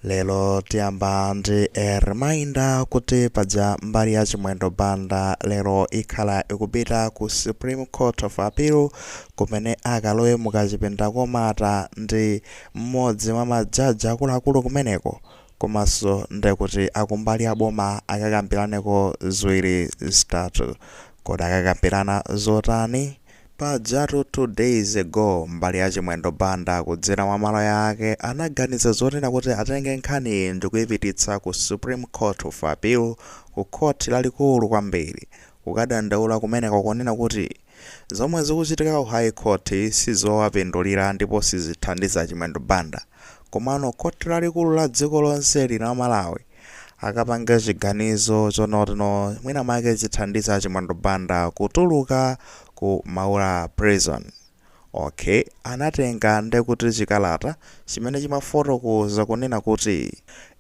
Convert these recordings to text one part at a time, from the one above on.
Lero tiyamba ndi a reminder kuti paja mbali ya Chimwendo Banda lero ikhala ikupita ku Supreme Court of Appeal kumene akalowe mu kachipinda komata ndi mmodzi mwa majaji akuluakulu kumeneko komanso ndekuti akumbali ya boma akakambiraneko ziwiri zitatu. Kodi akakambirana zotani? Pajatu 2 days ago mbali ya Chimwendo Banda kudzera mwa maloya ake anaganiza zonena kuti atenge nkhaniyi ndikuyipititsa ku Supreme Court of Appeal ku Court lalikulu kwambiri kukadandaula kumeneko kunena kuti zomwe zikuchitika ku High Court sizowapindulira ndipo sizithandiza Chimwendo Banda komano Court lalikulu la dziko lonseli la Malawi akapange chiganizo chonotino mwina make chithandiza a chimwendo banda kutuluka ku maula prison ok anatenga ndekuti chikalata chimene chimafotokoza kunena kuti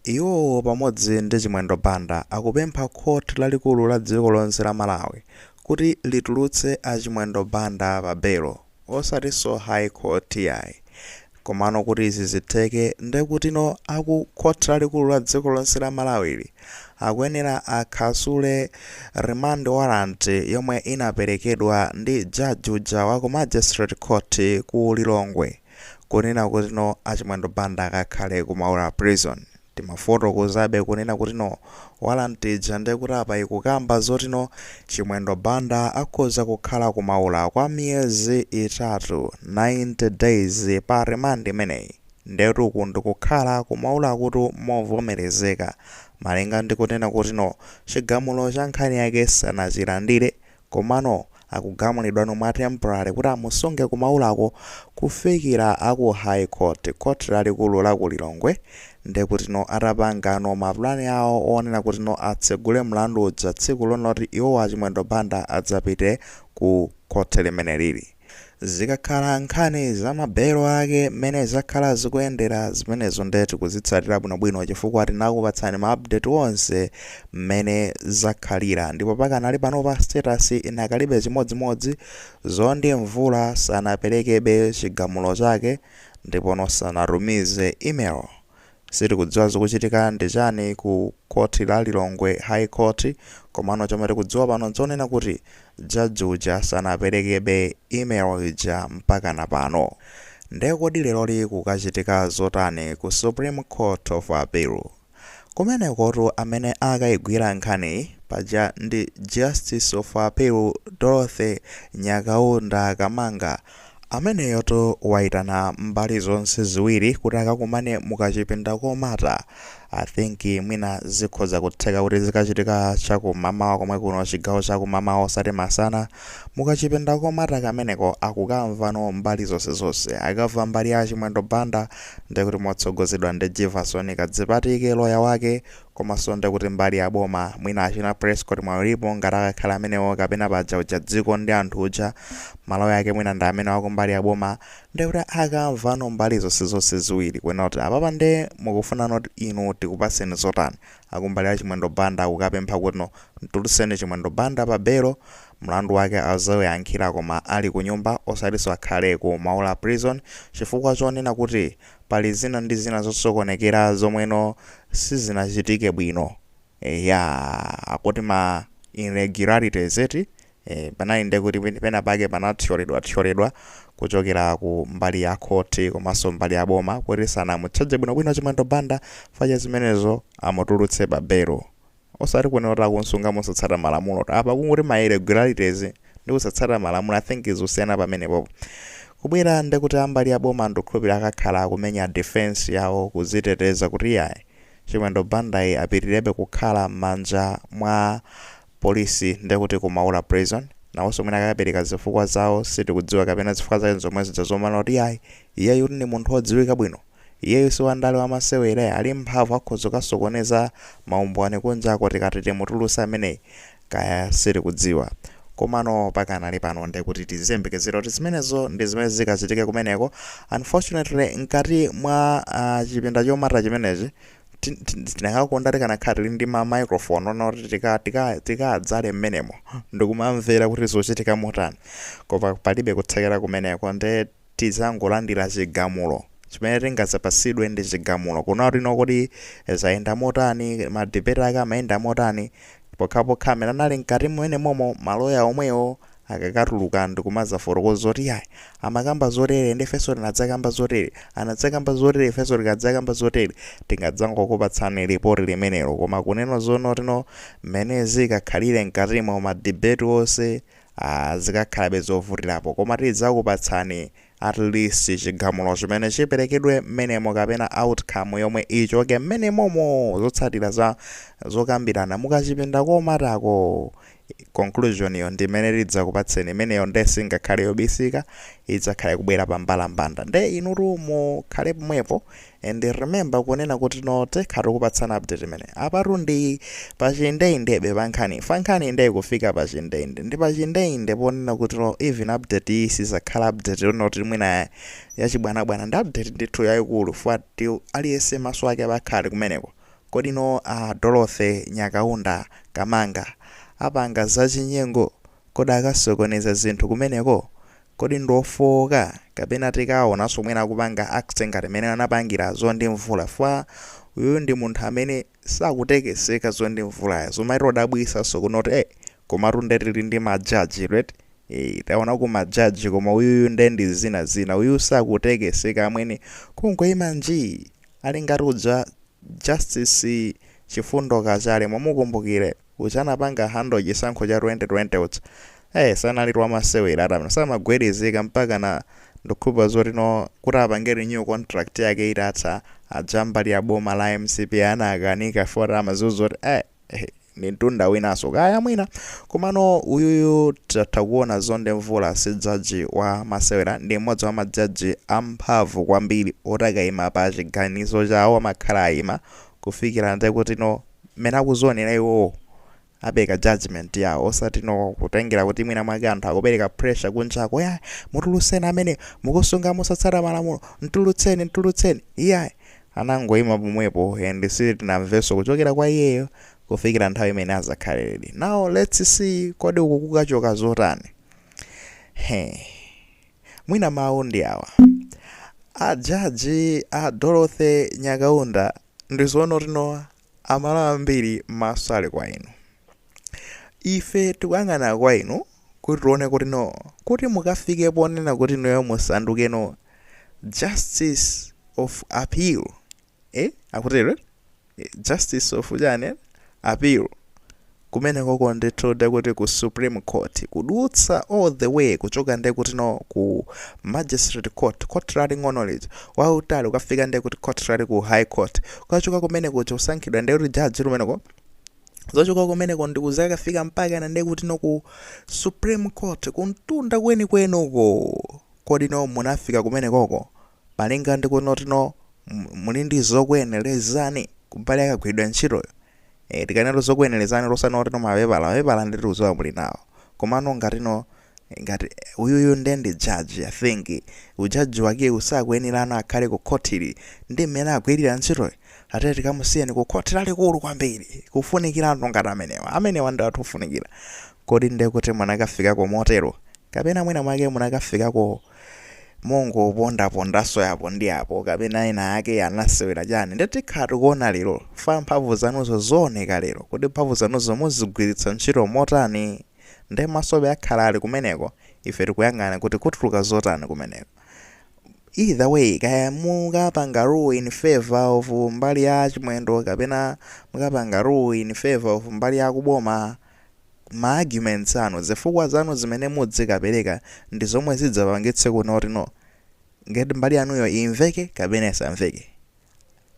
iwowo pamodzi ndi chimwendo banda akupempha court lalikulu la dziko lonse la malawi kuti litulutse a chimwendo banda pa belo osatinso high court iyayi komano kuti izi zitheke ndekutino aku khothi lalikulu la dziko lonse la Malawili akuyenera akhasule remand warrant yomwe inaperekedwa ndi judge uja wa ku magistrate court ku Lilongwe kunena kutino a Chimwendo Banda akakhale ku Maula prison. Timafotokozabe kunena kutino warrant ija ndekuti apa ikukamba zotino Chimwendo Banda akhoza kukhala ku Maula kwa miyezi itatu, 90 days, pa remand imeneyi. Ndetu uku ndikukhala ku Maulakutu movomerezeka malinga ndi kunena kutino chigamulo cha nkhani yake sanachilandire Komano akugamulidwa no mwa temporary kuti amusunge ku maulako kufikira aku high court, court lalikulu la ku Lilongwe, ndekutino atapangano mapulani awo onena kutino atsegule mlandu uja tsiku lonoti iwowa a Chimwendo Banda adzapite ku court limenelili. Zikakhala nkhani za mabelo ake mmene zakhala zikuyendera zimenezo nde tikuzitsatira bwinobwino chifukwa tinakupatsani ma update onse mmene zakhalira ndipo pakadali panopa status inakalibe chimodzimodzi Mzondi Mvula sanaperekebe chigamulo chake ndipono sanatumize email Sitikudziwa zikuchitika ndi chani ku Court la Lilongwe High Court komano chomwe tikudziwa pano nchonena kuti Judge uja sanaperekebe email ija mpakana pano. Nde kodi leroli kukachitika zotani ku Supreme Court of Appeal? Kumenekotu amene akaigwira nkhaniyi paja ndi Justice of Appeal Dorothy Nyakaunda Kamanga. Ameneyotu waitana mbali zonse ziwiri kuti akakumane mu kachipinda komata. I think mwina zikhoza kutheka kuti zikachitika cha ku mamawa komwe kuno chigawo cha ku mamawa osati masana. Mu kachipinda komata kameneko akukamvano mbali zonse zonse. Akamva mbali ya Chimwendo Banda ndiye kuti motsogozedwa ndi Jivason Kadzipatike loya wake komaso nde kuti mbali ya boma mwina achina prescot Mwayiulipo ngati akakhale amenewo kapena paja uja dziko ndi anthu uja maloya ake mwina ndi amenewo akumbali ya boma nde kuti akamvano mbali zonse zonse ziwiri kuonano kuti apapa nde mukufunano kuti inu tikupatseni zotani akumbali ya chimwendo banda akukapempha kutino mtuluseni chimwendo banda pa belo mlandu wake azauyankhila koma ali kunyumba osatiso akhale ku maula prison chifukwa chonena kuti Pali zina ndi zina zosokonekera zomweno sizinachitike bwino eya akuti ma irregularities eti e, panali nde kuti pena pake panathyoledwa thyoledwa kuchokera ku mbali ya khothi komanso mbali ya boma kuti sanamutchaje bwinobwino Chimwendo Banda chifukwa cha zimenezo amutulutse pa belo osati kunena kuti akunsunga mosatsata malamulo apa kungoti ma irregularities ndi kusatsata malamulo i think zosiyana pamenepopo kubwera ndekuti ambali yaboma ndikukhulupira akakhala akumenya defence yawo kuziteteza kuti iyayi chimwendo bandayi apitirebe kukhala m'manja mwa polisi ndekuti kumaula prison nawonso mwina akapereka zifukwa zawo sitikudziwa kapena zifukwa zake nzomwe zija zomanena kuti iyayi iyeyu ndi munthu odziwika bwino Iyeyu siwandale wamasewele ali ndi mphamvu akhoza kukasokoneza maumboni kunjako tikati timutuluse ameneyi kaya sitikudziwa komano pakanali pano ndekuti tiziyembekezera kuti zimenezo ndizimene zikachitike kumeneko unfortunately nkati mwa uh, chipinda chomata chimenechi tinakakonda tikanakhala tili ndi ma microphone onena kuti tikadzale tika, tika, tika mmenemo ndikumamvera kuti zochitika motani koma palibe kuthekera kumeneko nde tidzangolandira chigamulo. Chimene tingadzapatsidwe ndi chigamulo. Kunenano kuti kodi zayenda motani? Ma debate ake amayenda motani? Pokhapokha amene anali mkati mmenemomo, maloya omwewo akakatuluka ndikumadzafotokoza kuti yayi, amakamba zotere ndi ifenso tinadzakamba zotere, anadzakamba zotere ifenso tikadzakamba zotere, tingadzangokupatsani report limenelo. Koma kunena zoonatino, mmene zikakhalire mkatimo, ma debate onse Aaa zikakhalabe zovutilapo koma tidzakupatsani at least chigamulo chimene chiperekedwe mmenemo kapena outcome yomwe ichoke mmenemomo zotsatira za zokambirana mukachipinda komatako conclusion yo ndimene tidzakupatseni imeneyo nde singakhale yobisika idzakhale ikubwera pa mbalambanda nde inutu mukhale pomwepo And remember kunena kuti no takhala tikupatsana update imeneyi apatu ndi pachindeindebe pankhani fankhani nde ikufika pachindeinde ndi pachindeinde ponena kuti no even update iyi sizakhala update yonoti mwina yachibwanabwana ndi update ndithu yayikulu fuat aliyense maso ake abakhala kumeneko kodi no uh, dorothy nyakaunda kamanga apanga zachinyengo kodi akasokoneza zinthu kumeneko Kodi ndiofooka kapena tikawaonanso mwina akupanga act ngati mmene anapangila Zondi Mvula chifukwa uyuyu ndi munthu amene sakutekeseka Zondi Mvulayo zomatidabwitsanso kunoti ee komatu nde tili ndi ma judge inu eti ee taonako ma judge koma uyuyu nde ndi zina zina uyu sakutekeseka amwene kungoima njii ali ngati uja justice Chifundo Kachale mumukumbukile uja anapanga handle chisankho cha 2020 uja ee sanali wamasewera ati amene samagwirizika mpakana ndikukhulupirira zoti no kuti apange renew contract yake itatha aja ambali ya boma la mcp anakanika chifukwa kuti amadziwa zoti ee ehe, ndi mtunda winanso kaya mwina komano uyuyu tatha kuona Zondi Mvula si jaji wa masewera ndi mmodzi wa majaji amphamvu kwambiri oti akaima pa chiganizo chawo amakhala aima kufikira nde kuti no mmene akuzonera iwowo apeleka judgement yawo osati no kutengera kuti mwina mwake anthu akupeleka pressure kunjako ya mumutulutse amene mukusunga mosatsata malamulo mtulutseni mtulutseni iyayi anangoima pomwepo and sitinamvenso kuchokera kwa iyeyo kufikira nthawi imene azakhale ready now let's see kodi uku kukachoka zotani he mwina mawu ndi awa a jaji a dorothy nyakaunda Ndizoona kuti no aMalawi ambiri maso ali kwa inu ife tikuyang'ana kwa inu kuti tione kuti no kuti mukafike ponena kuti inuyo musanduke no justice of appeal eh akutero eh? Eh, justice of chani appeal kumenekoko ndithu ndekuti ku supreme court kudutsa all the way kuchoka ndekutino ku magistrate court court laling'ono lija kwa utali ukafika ndekuti court lalikulu high court ukachoka kumene kuja kusankhidwa ndekuti jaji kumeneko nzochoka kumeneko ndikuzakafika mpakana ndekutino ku supreme court kumtunda kwenikweniko kodi no munafika kumenekoko Malinga ndi kunoti no, muli ndi zokuyenerezani kumbali ya kagwiridwe ka ntchitoyo? Eeh, tikanena kuti zokuyenerezani osanoti no mapepala, mapepala nde tikudziwa muli nawo. Komano ngatino, ngati, uyuyu nde ndi judge, I think, u judge wakewu sakuyenerano kukhala ku khotili ndi mmene agwirira ntchitoyi. Tiye tikamusiyeni ku khoti lalikulu kwambiri. Kufunikira anthu ngati amenewa. Amenewa ndi anthu ofunikira. Kodi nde kuti munakafikako motero? Kapena mwina mwake munakafikako. mongopondapondanso yapo ndi yapo kapena ena ake anasewera chani nde tikhala tikuona lero chifukwa mphamvu zanuzo zioneka lero kuti mphamvu zanuzo muzigwiritsa ntchito motani nde maso akhala ali kumeneko ife tikuyang'ana kuti kutuluka zotani kumeneko either way kaya mukapanga rule in favour of mbali ya chimwendo kapena mukapanga rule in favour of mbali ya kuboma ma arguments anu, zifukwa zanu zimene mudzikapereka ndi zomwe zidzapangitse kuti ngati mbali yanuyo imveke kapena isamveke.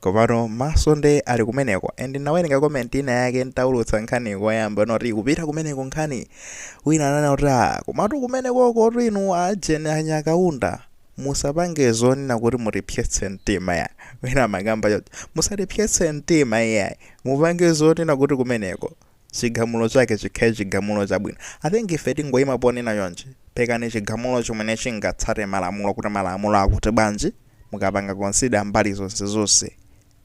Komano maso nde ali kumeneko and ndinawerenga comment ina yake ntaulutsa nkhani koyamba noti kupita kumeneko nkhani wina ananena kuti ah komatu kumenekokotu inu a Jane a Nyakaunda musapange zonena kuti mutipsetse mtima iyayi wina amakamba choncho musatipsetse mtima iyayi mupange zonena kuti kumeneko chigamulo chake chikhale chigamulo chabwino. I think ife tingoyima ponena chonchi, perekani chigamulo chimene chingatsate malamulo kuti malamulo akuti bwanji, mukapanga consider mbali zonse zonse,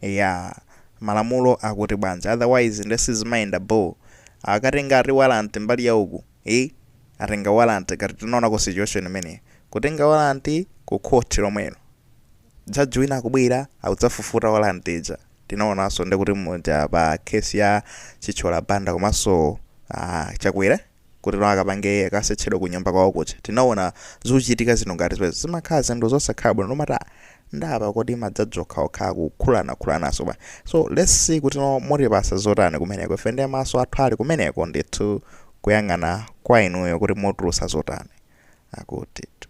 eyaa, malamulo akuti bwanji, otherwise nde sizimayenda bho, akatenga ati warrant mbali ya uku, eeh, atenga warrant ngati tinaonako situation imeneyo, kutenga warrant ku court lomwelo. Judge wina akubwera akudzafufuta warrant ija. Tinaonanso ndikuti muja pa case ya Chithyola Banda komanso a Chakwera kuti nawo akapange akasetchedwe ku nyumba kwawo kuja. Tinaona zochitika zinthu ngati zimenezi zimakhala zinthu zosakhala bwino nomata ah, nda apa kodi ma judge okhaokha akukhulanakhulanaso bwa. So let's see kuti mutipasa zotani kumeneko. Ife nde maso athu ali kumeneko ndithu kuyang'ana kwa inuyo kuti mutulusa zotani. Akutitu.